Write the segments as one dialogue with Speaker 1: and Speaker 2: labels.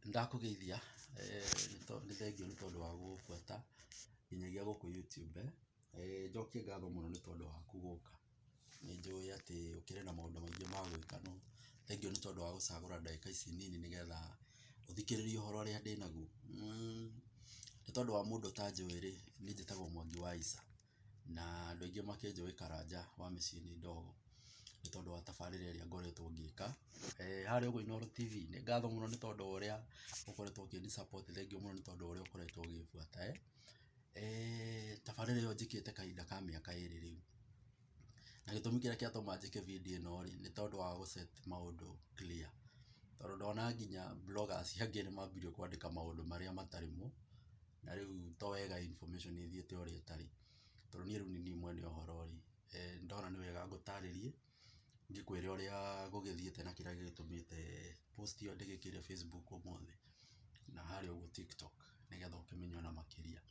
Speaker 1: Nĩndakũgeithia, nĩ thengiũ nĩ tondũ wa gũbuata nginyagia gũkũ YouTube. Njokie ngatho mũno nĩ tondũ waku gũka. Nĩ njũĩ atĩ ũkĩrĩ na maũndũ maingĩ ma gwĩka no thengiũ nĩ tondũ wa gũcagũra ndagĩka ici nini nĩ getha ũthikĩrĩrie ũhoro ũrĩa ndĩnaguo. Nĩ tondũ wa mũndũ ũtanjũĩ rĩ, niĩ njĩtagwo Mwangi wa Isa. na andũ aingĩ makĩnjũĩ Karanja wa mĩciĩ nĩ ndogo nĩ tondũ wa tabarĩra ĩrĩa ngoretwo ngĩka. Harĩa ũguo Inooro TV nĩ ngatho mũno nĩ tondũ wa ũrĩa ũkoretwo ũkĩni support thengiũ mũno nĩ tondũ wa ũrĩa ũkoretwo ũgĩbuata. Tabarĩra ĩyo njĩkĩte kahinda ka mĩaka ĩrĩ rĩu na gĩtũmi kĩrĩa kĩatũma njĩke video ĩno rĩ nĩ tondũ wa gũ set maũndũ clear tondũ ndona nginya bloggers angĩ nĩ mambĩrĩirie kwandĩka maũndũ marĩa matarĩ mo na rĩu to wega information ĩthiĩte ũrĩa ĩtarĩ, tondũ niĩ rĩu nĩ niĩ mwene ũhoro rĩ, ndona nĩ wega ngũtarĩrie, ngĩkwĩre ũrĩa gũgĩthiĩte na kĩrĩa gĩgĩtũmĩte post ĩyo ndĩgĩkĩre Facebook ũmũthĩ, na harĩa ũguo TikTok nĩgetha ũkĩmenye ona makĩria.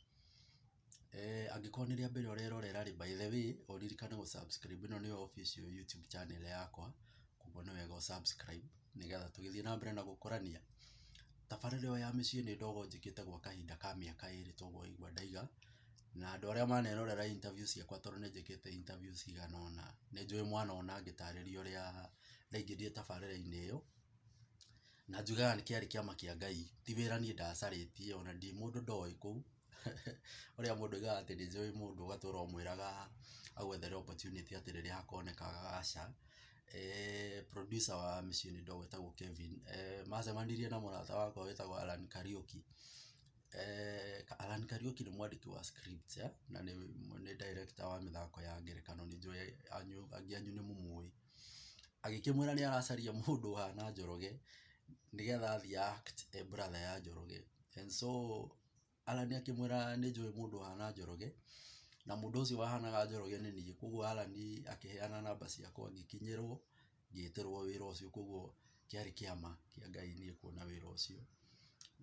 Speaker 1: Angĩkorwo nĩ rĩa mbere ũrerorera rĩ, by the way ũririkane gũ subscribe ĩno nĩyo official YouTube channel yakwa, koguo nĩ wega ũ subscribe. nĩgetha tũgĩthiĩ na mbere na gũkũrania. Tabarĩra ĩyo ya mĩciĩ nĩ ndogo njĩkĩte gwa kahinda ka mĩaka ĩrĩ ta ũguo waigua ndaiga, na andũ arĩa manerorera interview ciakwa tondũ nĩ njĩkĩte interview cigana ũna, nĩ njũĩ mwana ũna ngĩtarĩria ũrĩa ndaingĩrire tabarĩra-inĩ ĩyo, na njugaga nĩ kĩarĩ kĩama kĩa Ngai, ti wĩra niĩ ndacarĩtie, ona ndirĩ mũndũ ndoĩ kũu. ũrĩa mũndũ augaga atĩ nĩ njũĩ mũndũ ũgatũra ũmwĩraga agwethere opportunity atĩ rĩrĩa hakoneka gaca. Producer wa Mĩciĩ nĩ Ndogo wĩtagwo Kevin macemanirie na mũrata wakwa wĩtagwo Allan Kariuki. Allan Kariuki nĩ mwandĩki wa script na nĩ director wa mĩthako ya ngerekano nĩ njũĩ angĩ anyu nĩ mũmũĩ. Agĩkĩmwĩra nĩ aracaria mũndũ ũhana Njoroge nĩgetha athiĩ a act e brother ya Njoroge. And so Allan akĩmwĩra nĩ njũĩ mũndũ ũhana Njoroge, na mũndũ ũcio wahanaga Njoroge nĩ niĩ. Kũguo Allan akĩheana namba ciakwa ngĩkinyĩrwo, ngĩtĩrwo wĩra ũcio. Kũguo kĩarĩ kĩama kĩa Ngai niĩ kuona wĩra ũcio.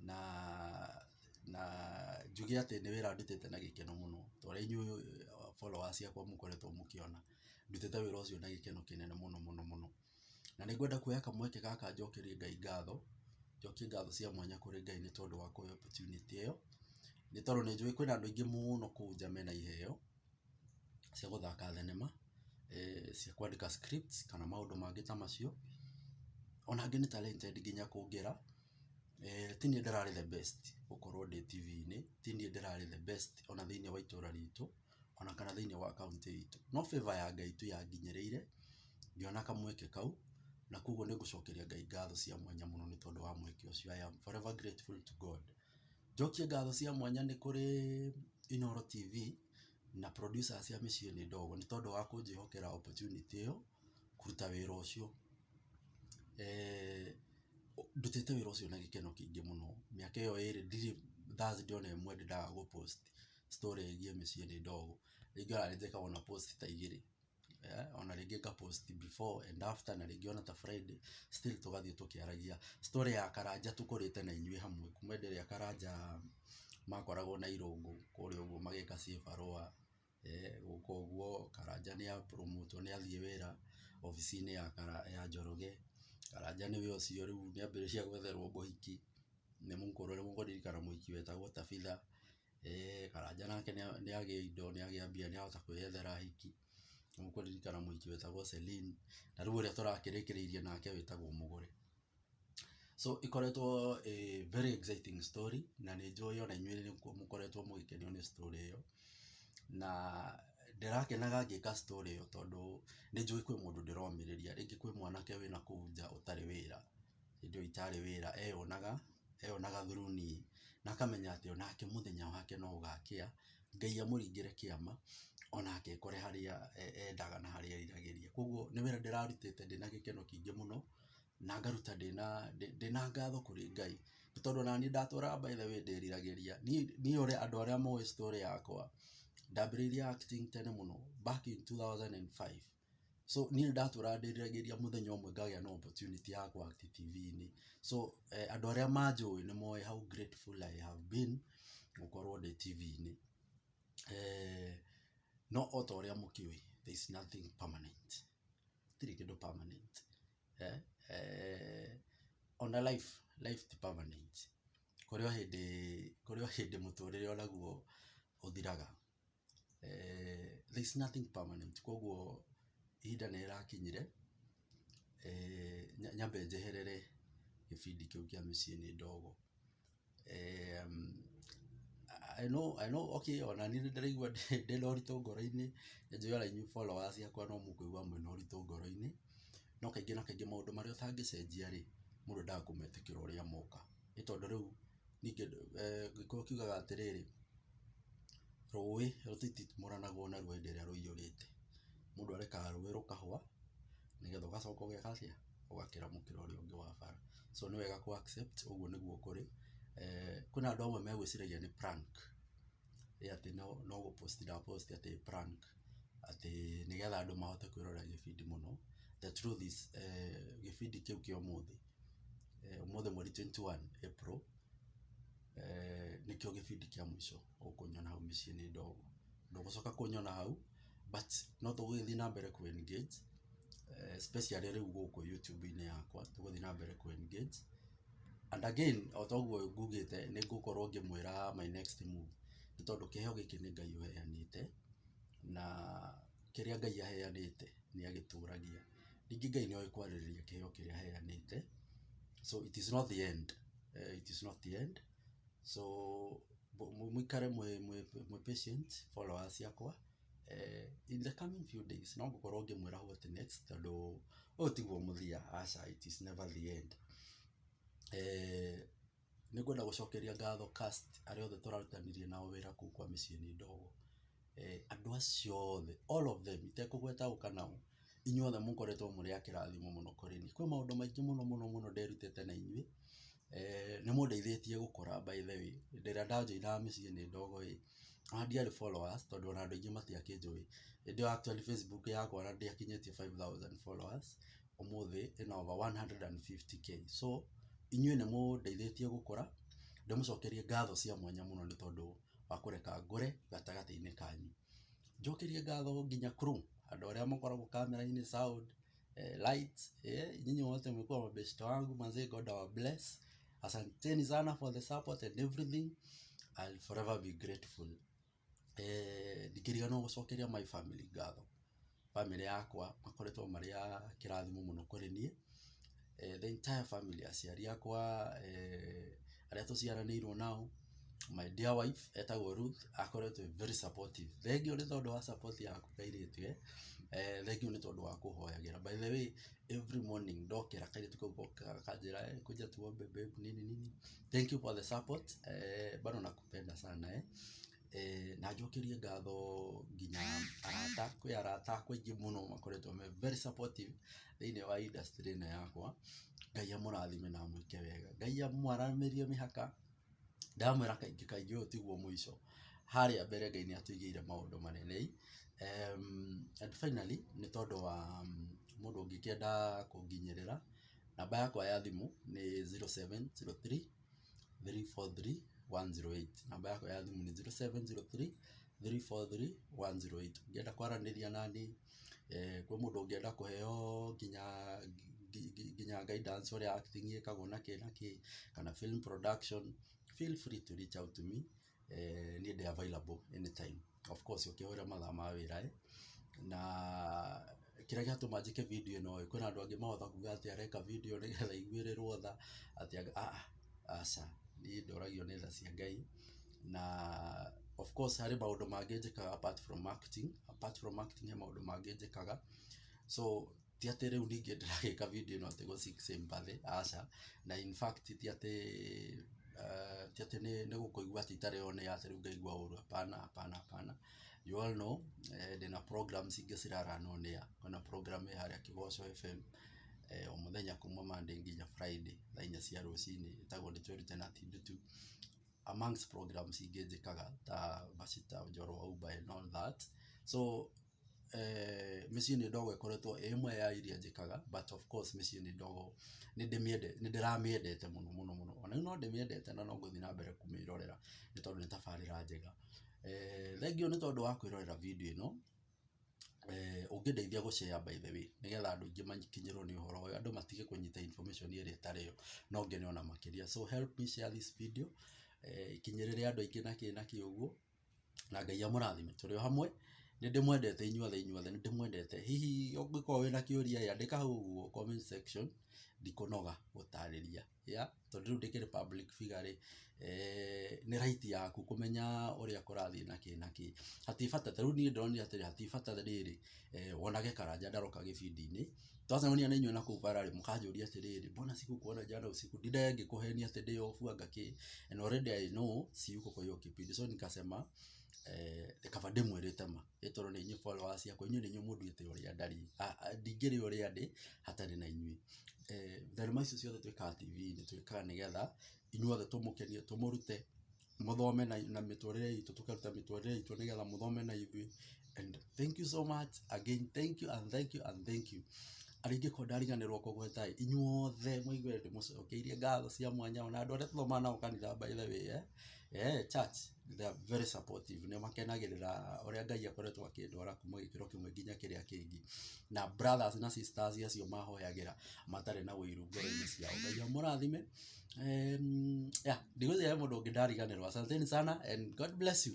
Speaker 1: Na na njuge atĩ nĩ wĩra ndutĩte na gĩkeno mũno, ta ũrĩa inyuĩ followers ciakwa mũkoretwo mũkĩona. Ndutĩte wĩra ũcio na gĩkeno kĩnene mũno mũno mũno. Na nĩ ngwenda kuoya kamweke gaka njokerie Ngai ngatho, njokie ngatho cia mwanya kũrĩ Ngai nĩ tondũ wa kũhe opportunity ĩyo, nĩ tondũ nĩ njũĩ kwĩna andũ aingĩ mũno kũu nja mena iheo cia gũthaka thenema, cia kwandĩka scripts kana maũndũ mangĩ ta macio. Ona angĩ nĩ talented nginya kũngĩra. Ti niĩ ndĩrarĩ the best gũkorwo ndĩ TV-inĩ, ti niĩ ndĩrarĩ the best ona thĩiniĩ wa itũra ritũ. ona kana thĩiniĩ wa kauntĩ itũ. No favor ya Ngai tu yanginyĩrĩire, ngĩona kamweke kau, na koguo nĩ gũcokeria Ngai ngatho cia mwanya mũno nĩ tondũ wa mweke ũcio. I am forever grateful to God. Njokie ngatho cia mwanya nĩ kũrĩ Inooro TV, na producers a Mĩciĩ nĩ Ndogo nĩ tondũ wa kũnjĩhokera opportunity ĩyo, kũruta wĩra ũcio. Ndutĩte wĩra ũcio na gĩkeno kĩingĩ mũno. Mĩaka ĩyo ĩrĩ ndirĩ Thursday ona ĩmwe ndĩ ndaga gũ post story ĩgiĩ mĩciĩ nĩ ndogo, rĩngĩ ona nĩnjĩkaga ona post ta igĩrĩ, ona rĩngĩ nga post before and after na rĩngĩ ona ta Friday still tũgathiĩ tũkĩaragia. Story ya Karanja tũkũrĩte na inyuĩ hamwe kuma hĩndĩ ĩrĩa Karanja makoragwo na irũngũ kũrĩa ũguo magĩka cibarũa gũka ũguo Karanja nĩ a promote wo nĩ athiĩ wĩra obici-inĩ ya Njoroge, Karanja nĩwe ũcio rĩu nĩ ambĩrĩria gwetherwo mũhiki, nĩ mũkũrũ nĩ mũkũririkana mũhiki wetagwo Tabitha. Eeh Karanja nake nĩ agĩa indo, nĩ agĩa mbia nĩ ahota kwĩyethera ahiki. Nĩ ũkũririkana mũhiki wetagwo Celine na rĩu ũrĩa tũrakĩrĩkĩrĩirie nake wĩtagwo Mũgũre. So ĩkoretwo ĩĩ very exciting story na nĩ njũĩ ona inyuĩ nĩ mũkoretwo mũgĩkenio nĩ story ĩyo. Na ndĩrakenaga ngĩka story ĩyo tondũ nĩ njũĩ kwĩ mũndũ ndĩromĩrĩria, rĩngĩ kwĩ mwanake wĩ nakũu nja ũtarĩ wĩra. hĩndĩ ĩyo itarĩ wĩra eyonaga, eyonaga through niĩ, na akamenya atĩ onake mũthenya wake no ũgakĩa, Ngai amũringĩre kĩama, onake ekore harĩa endaga na harĩa eriragĩria. Koguo nĩ wĩra ndĩrarutĩte ndĩna gĩkeno kĩingĩ mũno, na ngaruta ndĩna ndĩna ngatho kũrĩ Ngai, nĩ tondũ onaniĩ ndatũraga by the way ndĩriragĩria. Niĩ niĩ ũrĩa andũ arĩa moĩ story yakwa, ndambĩrĩirie acting tene mũno back in two thousand and five. so niĩ nĩndatũra ndĩriragĩria mũthenya ũmwe ngagĩa na opportunity ya kũ act TV-inĩ, so andũ arĩa manjũĩ nĩ moĩ how grateful I have been gũkorwo ndĩ TV-inĩ, no ota ũrĩa mũkĩũĩ there is nothing permanent gũtirĩ kĩndũ permanent ona life, life ti permanent kũrĩ o hĩndĩ, kũrĩ o hĩndĩ mũtũrĩre onaguo ũthiraga. there is nothing permanent kogwo ihinda nĩ rĩrakinyire nyambe njeherere gĩbindi kĩu kĩa mĩciĩ nĩ ndogo. I know I know okay ona niĩ nĩ ndĩraigua ndĩna ũritũ ngoro-inĩ, nĩ njũĩ ona inyuĩ followers akwa no mũkũigua mwĩna ũritũ ngoro-inĩ, no kaingĩ na kaingĩ maũndũ marĩa ũtangĩcenjia rĩ, mũndũ endaga kũmetĩkĩra ũrĩa moka. Nĩ tondũ rĩu... Niĩ kĩndũ Gĩkũyũ kiugaga atĩrĩrĩ, rũĩ rũtititimũranagwo narua hĩndĩ ĩrĩa rũiyũrĩte. Mũndũ arekaga rũĩ rũkahũa nĩgetha ũgacoka ũgeka atĩa? ũgakĩramũkĩra ũrĩa ũngĩ wa bara. So nĩ wega kũ accept ũguo nĩguo kũrĩ. Kwĩna andũ amwe megwĩciragia nĩ prank ĩ atĩ no gũ post ndĩra post atĩ prank atĩ nĩgetha andũ mahote kwĩrorera gĩbindi mũno. The truth is gĩbindi kĩu kĩa ũmũthĩ. ũmũthĩ mweri twenty one April, nĩkĩo gĩbindi kĩa mũico ũkũnyona hau mĩciĩ nĩ ndogo. Ndũgũcoka kũnyona hau but no tũgũgĩthiĩ na mbere kũ engage especially rĩu gũkũ YouTube-inĩ yakwa, tũgũthiĩ na mbere kũ engage. And again o ta ũguo ngugĩte nĩ ngũkorwo ngĩmwĩra my next move nĩ tondũ kĩheo gĩkĩ nĩ Ngai ũheanĩte, na kĩrĩa Ngai aheanĩte nĩ agĩtũragia. Ningĩ Ngai nĩoĩ kwarĩrĩria kĩheo kĩrĩa aheanĩte, so it is not the end, it is not the end, so mũikare mwĩ patient followers ciakwa, in the coming few days no ngũkorwo ngĩmwĩra what next tondũ ũyũ tiguo mũthia, aca it is never the end. Nĩ ngwenda gũcokeria ngatho cast arĩa othe tũrarutithania nao wĩra kũu kwa mĩciĩ nĩ ndogo. Andũ acio othe all of them itekũgweta ũũ kana ũũ, inyuĩ othe mũkoretwo mũrĩ a kĩrathimo mũno kũrĩ niĩ. Kwĩ maũndũ maingĩ mũno mũno mũno nderutĩte na inyuĩ, nĩ mũndeithĩtie gũkũra by the way. Hĩndĩ ĩrĩa nda joinaga mĩciĩ nĩ ndogo ĩĩ, ona ndiarĩ followers tondũ ona andũ aingĩ matiakĩnjũĩ. Hĩndĩ ĩyo actually Facebook yakwa ona ndĩakinyĩtie five thousand followers. ũmũthĩ ĩna over one hundred and fifty K so inyuĩ nĩ mũndeithĩtie gũkũra, ndĩmũcokerie ngatho cia mwanya mũno nĩ tondũ wa kũreka ngũre gatagatĩ-inĩ kanyu. Njokerie ngatho nginya crew andũ arĩa mũkoragwo camera-inĩ, sound, lights, nyinyi wote mmekuwa mabeshte wangu manze God awa bless. Asanteni sana for the support and everything, I'll forever be grateful. ndingĩriganĩrwo nĩ gũcokeria my family ngatho. Bamĩrĩ yakwa makoretwo marĩ a kĩrathimo mũno kũrĩ niĩ, the entire family aciari akwa, arĩa tũciaranĩirwo nao, my dear wife etagwo Ruth akoretwo e very supportive. Thengiũ nĩ tondũ wa support yaku kairĩtu ĩ, thengiũ nĩ tondũ wa kũhoyagĩra. By the way, every morning ndokĩra kairĩtu kau gokaga gakanjĩra kuja tuombe babe nini nini. Thengiũ for the support bado na. nakupenda sana eh na njokerie ngatho nginya arata kwĩ arata akwa aingĩ mũno makoretwo me very supportive thĩinĩ wa industry ĩno yakwa Ngai amũrathime na amwĩke wega Ngai amwaramĩrie mĩhaka ndamwĩra kaingĩ kaingĩ ũyũ tiguo mũico harĩa mbere Ngai nĩatũigĩire maũndũ manene and finally nĩ tondũ wa mũndũ ũngĩkĩenda kũnginyĩrĩra namba yakwa ya thimũ nĩ zero seven zero three 0703433108 namba yakwa ya thimũ nĩ 0703433108 ũngĩenda kwaranĩria naniĩ eh, kwĩ mũndũ ũngĩenda kũheo nginya ngi- ngi- nginya guidance ũrĩa acting ĩkagwo na kĩ na kĩ kana film production feel free to reach out to me niĩ ndĩ available anytime of course ũkĩhũrĩra mathaa ma wĩra ĩ na kĩrĩa gĩatũma njĩke video ĩno ĩ kwĩna andũ angĩ mahota kuga atĩ areka video nĩgetha aiguĩrĩrwo tha atĩ aa aca niĩ ndoragio nĩ tha cia Ngai na of course harĩ maũndũ mangĩ njĩkaga apart from acting, apart from acting he maũndũ mangĩ njĩkaga so ti atĩ rĩu ningĩ ndĩragĩka video ĩno atĩ gũ seek sympathy aca, na in fact ti atĩ eh, ti atĩ nĩ nĩ gũkũigua atĩ itarĩ o nĩ atĩ rĩu ngaigua ũũru hapana hapana hapana you all know eh, ndĩna programs ingĩ ciraranwo nĩ ya kwĩna program ĩ harĩa Kĩgoco FM eh, o mũthenya kuma Monday nginya Friday thaa inya cia rũcinĩ ĩtagwo nĩ twĩrute na ti ndutu amongst programs ingĩ njĩkaga ta Bacita Njoro wa Uber and all that so mĩciĩ nĩ ndogo ĩkoretwo ĩĩ ĩmwe ya iria njĩkaga but of course mĩciĩ nĩ ndogo nĩ ndĩramĩendete mũno mũno mũno. O na rĩu no ndĩmĩendete na no ngũthiĩ na mbere kũmĩrorera nĩ tondũ nĩ tabarĩra njega. Thengiũ nĩ tondũ wa kwĩrorera video ĩno, ũngĩndeithia gũ share by the way nĩ getha andũ aingĩ makinyĩrwo nĩ ũhoro ũyũ, andũ matige kũnyita information ĩrĩa ĩtarĩ yo no ngene o na makĩria. So help me share this video ĩkinyĩrĩre andũ aingĩ na kĩĩ na kĩĩ ũguo. na Ngai amũrathime. Tũrĩ o hamwe, nĩ ndĩmwendete inyuothe inyuothe nĩ ndĩmwendete. Hihi ũngĩkorwo wĩna kĩũria ĩ, andĩka hau ũguo comment section, ndikũnoga gũtarĩria. Yaa, tondũ rĩu ndĩkĩrĩ public figure rĩ, nĩ right yaku kũmenya ũrĩa kũrathiĩ na kĩ na kĩ. Hatirĩ bata, ta rĩu niĩ ndĩronire atĩrĩ, hatirĩ bata rĩrĩ, wonage Karanja ndaroka gĩbindi-inĩ, Sasa niĩ nĩ nyona kũu bara-rĩ, mũkanjũria atĩrĩrĩ, mbona sikukuona jana usiku? Ndidaya ngĩkũhenia atĩ ndĩ off anga kĩ, and already I know siyuko kwa hiyo kipindi, so nikasema kaba ndĩmwĩrĩte ma, ĩ tondũ nĩ inyuĩ followers akwa, inyuĩ nĩ inyuĩ mũnduĩte ũrĩa ndariĩ, ndingĩrĩ ũrĩa ndĩ hatarĩ na inyuĩ. Thenema ici ciothe twĩkaga TV-inĩ twĩkaga nĩgetha inyuothe tũmũkenie, tũmũrute. mũthome na mĩtũrĩre itũ tũkaruta mĩtũrĩre itũ nĩgetha mũthome na ithuĩ and thank you so much again thank you and thank you and thank you arĩa ingĩkorwo ndariganĩrwo kũgweta ĩ inyuothe mũigue ndĩmũcokeirie ngatho cia mwanya ona andũ arĩa tũthomaga nao kanitha by the way eh, eh church they are very supportive nĩ makenagĩrĩra ũrĩa Ngai akoretwo akĩndwara kuma gĩkĩro kĩmwe nginya kĩrĩa kĩngĩ na brothers na sisters acio mahoyagĩra matarĩ na ũiru ngoro-inĩ ciao Ngai amũrathime ndigwĩciria he mũndũ ũngĩ ndariganĩrwo asanteni sana and God bless you.